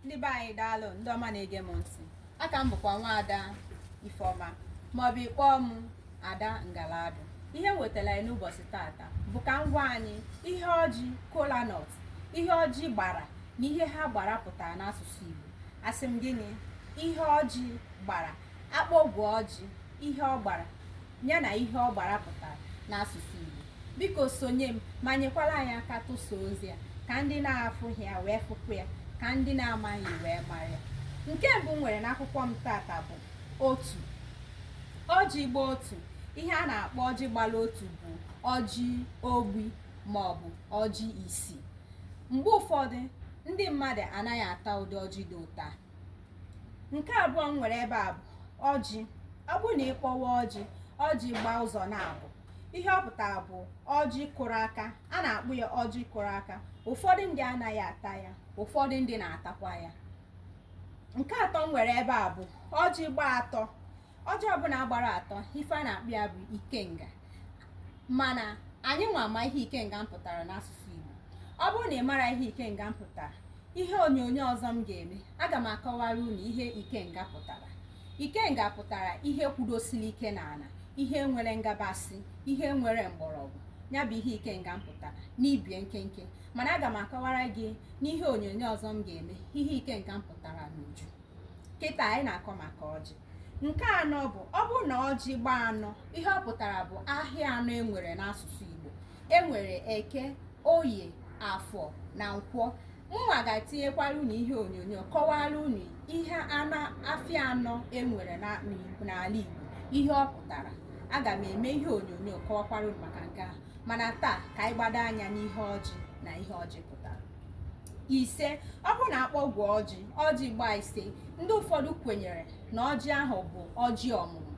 ndị be anyị daalụ ndị ọma na-ege m ntị aka m bụkwa nwaada ifeọma maọbụ ị kpọọ m ada ngaladụ ihe wetara anyị n'ụbọchị tata bụ ka m gwa anyị ihe ọjị kolanut ihe ọjị gbara na ihe ha gbara pụtara n'asụsụ igbo asị m gịnị ihe ọjị gbara akpọgwụ ọjị ihe ọ gbara ya na ihe ọ gbara pụtara n'asụsụ Igbo biko sonye m ma nyekwara anyị aka tụsa ozi a ka ndị na-afụghị ya wee fụkwu ya ka ndị na-amaghị wee mara ya nke mbụ m nwere n'akwụkwọ m tata bụ otu ọjị gba otu ihe a na-akpọ ọjị gbara otu bụ ọjị ogbi ma ọ bụ ọjị isi mgbe ụfọdụ ndị mmadụ anaghị ata ụdị ọjị dị otu a nke abụọ m nwere ebe a bụ ọjị ọ bụrụ na ị kpọwa ọjị ọjị gbaa ụzọ naabọ ihe ọ pụtara bụ ọjị kụrụ aka a na-akpọ ya ọjị kụrụ aka ụfọdụ ndị anaghị ata ya ụfọdụ ndị na-atakwa ya nke atọ m nwere ebe a bụ ọjị gbaa atọ ọjị ọbụla gbara atọ ife a na-akpọ ya bụ ikenga mana anyị nwa ama ihe ikenga pụtara n'asụsụ Igbo ọ bụrụ na ị mara ihe ikenga pụtara ihe onyonyo ọzọ m ga-eme aga m akọwara unu ihe ikenga pụtara ikenga pụtara ihe kwudosiri ike n'ala ihe nwere ngabasị ihe nwere mgbọrọgwụ ya bụ ihe ikenga pụtara n'ibe ya nkenke mana aga m akọwara gị n'ihe onyonyo ọzọ m ga-eme ihe ikenga pụtara n'uju kịta anyị na-akọ maka ọjị nke anọ bụ ọ bụrụ na ọjị gbaa anọ ihe ọ pụtara bụ ahịa anọ enwere n'asụsụ Igbo enwere eke oye afọ na nkwọ mụnwa ga-etinyekwara unu ihe onyonyo kọwara unu ihe afịa anọ enwere n'ala Igbo ihe ọ pụtara aga m eme ihe onyonyo kọwakwara unu maka nke ahụ mana taa ka anyị gbado anya n'ihe ọjị na ihe ọjị pụtara ise ọ bụrụ na akpọgwụ ọjị ọjị gbaa ise ndị ụfọdụ kwenyere na ọjị ahụ bụ ọjị ọmụmụ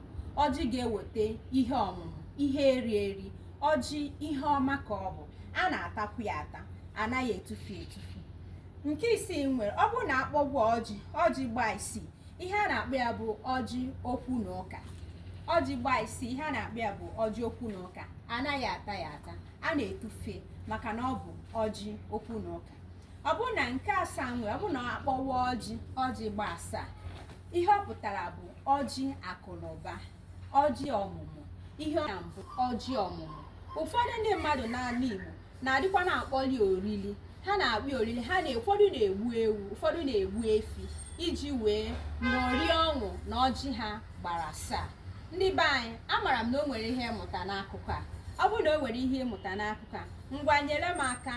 ọjị ga-eweta ihe ọmụmụ ihe eri eri ọjị ihe ọma ka ọ bụ a na-atakwu ya ata anaghị etufu etufu nke isii m nwere ọ bụrụ na akpọgwụ ọjị ọjị gbaa isii ihe a na-akpọ ya bụ ọjị okwu na ụka ọjị gbaa isii ihe a na-akpọ ya bụ ọjị okwu na ụka anaghị ata ya ata a na-etufe maka na ọ bụ ọjị okwu na ụka ọ bụrụ na nke asaa m nwere ọ bụrụ na akpọwa ọjị ọjị gba asaa ihe ọ pụtara bụ ọjị akụ na ụba ọjị ọmụmụ ihe ọ bụ ọjị ọmụmụ ụfọdụ ndị mmadụ n'ala Igbo na-adịkwa na-akpọli orili ha na-akpọ orili ha na ụfọdụ na-egbu ewu ụfọdụ na-egbu efi iji wee ṅụrịa ọṅụ na ọjị ha gbara asaa ndị be anyị amara m na o nwere ihe ị mụta n'akụkọ a ọ bụrụ na o nwere ihe ị mụta n'akụkọ a ngwa nyere m aka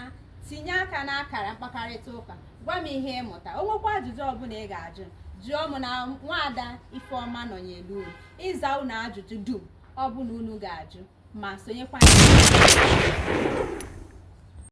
tinye aka n'akara mkpakarịta ụka gwa m ihe ị mụta o nwekwa ajụjụ ọbụla ị ga-ajụ jụọ m na nwaada ifeọma nọnyere unu ịza unu ajụjụ dum ọbụla unu ga-ajụ ma sonyekwa